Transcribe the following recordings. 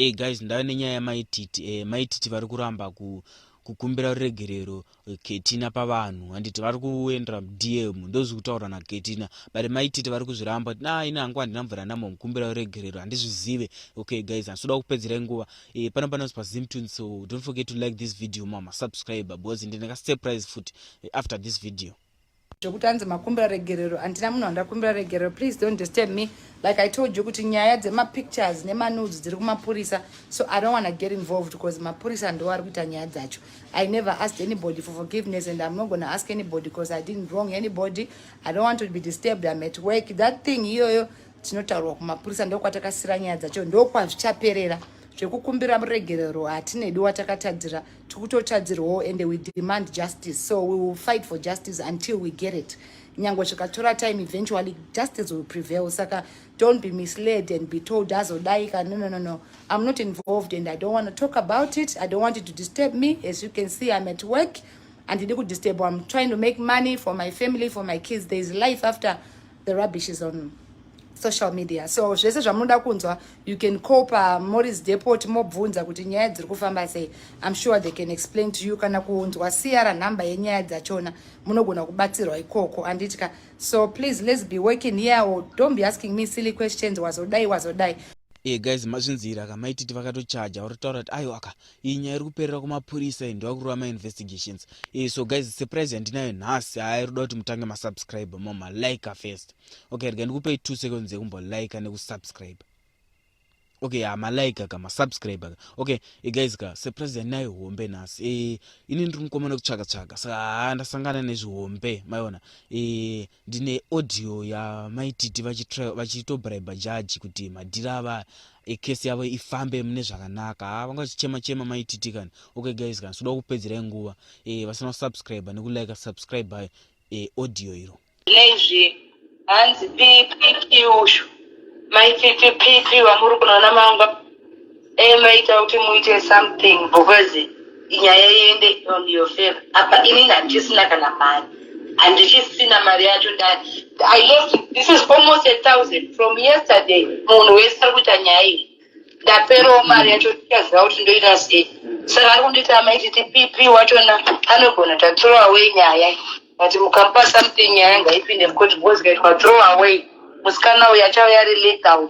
Hey eh, guys ndava nenyaya yamaititi eh, maititi vari kuramba ku kukumbira ruregerero eh, ketina pavanhu handiti vari kuendera mudm ndozvi kutaura naketina but maititi vari kuzviramba kuti na ini hangu handina mvura namo mukumbira ruregerero handizvizive okay guys handisoda kupedzera nguva e, eh, pano panozi pazimtun so don't forget to like this video mama subscribe because ndine kasurprise futi eh, after this video zvekuti hanzi makumbira regerero handina munhu wandakumbira regerero please don't disturb me like i told you kuti nyaya dzemapictures nemanudes dziri kumapurisa so i don't wanna get involved because mapurisa ndo ari kuita nyaya dzacho i never asked anybody for forgiveness and i'm not gonna ask anybody because i didn't wrong anybody i don't want to be disturbed i'm at work that thing iyoyo tinotaurwa kumapurisa ndokwatakasira nyaya dzacho ndokwazvichaperera zvekukumbira muregerero hatinedi watakatadzira tikutotadzirwawo ende we demand justice so we will fight for justice until we get it nyange zvikatora time eventually justice will prevail saka don't be misled and be told azodai ka no no no no i'm not involved and i don't want to talk about it i don't want it to disturb me as you can see i'm at work and handidi kudisturb i'm trying to make money for my family for my kids there is life after the rubbish is on social media so zvese zvamunoda kunzwa you can call pamoris depot mobvunza kuti nyaya dziri kufamba sei im sure they can explain to you kana kunzwa siya ranhamba yenyaya dzachona munogona kubatsirwa ikoko anditya so please let's be working here or don't be asking me silly questions wazodai wazodai e eh, guys mazvinzira ka maititi vakatochaja uri taura kuti aiwa ka iyi nyaya iri kuperera kumapurisa iyi ndovakurova mainvestigations e, so guys surprise yandinayo nhasi haa irikuda kuti mutange masubscribe moma like first okay rega ndikupei two seconds yekumbo like nekusubscribe okay ha malike aka masubscribe aka okay e, guys ka surprise yandinayo hombe nhasi e, ini ndiri mukomana kutsvaka tsvaka saka haa ndasangana nezvihombe maiona e, Ndine audio yamaititi vachitobriber judge kuti madhiri ava ecase yavo ifambe mune zvakanaka haa ah, vanga vachichema chema maititi kani okay guys kani soda kupedzerai nguva e, vasina kusubscribe nekulike subscribe by e, eh, audio iro lezvi hanzi ppp ushu maititi pp vamuri kunaona mangwa dai maita kuti muite something because nyaya iende on your favor apa inini handisina kana mari handichisina mari yacho i lost this is almost a thousand from yesterday munhu wese ari kuita nyaya iyi ndaperawo mari yacho tichaziva kuti ndoita sei saka ari kunditi amaiti tipp wachona anogona tathrow away nyaya but mukamupa something nyaya ngaipinde mukoti because ikaitwa throw away musikana uyu achauya ari legal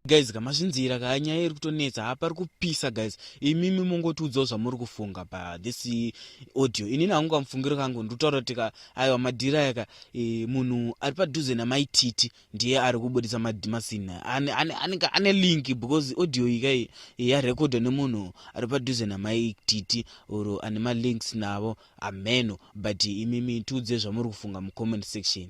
guys ka mazvinzira ka nyaya iri kutonetsa ha pari kupisa guys imimi mongotiudzawo zvamuri kufunga pa this audio inini hangu kamufungiro kangu ndikutaura kuti ka aiwa madhira yaka e, munhu ari padhuze namaititi ndiye ari kubudisa madimasin anenge ane link because audio yika yarekodwa nemunhu ari padhuze namaititi or ane malinks navo ameno but imi mitiudze zvamuri kufunga mucomment section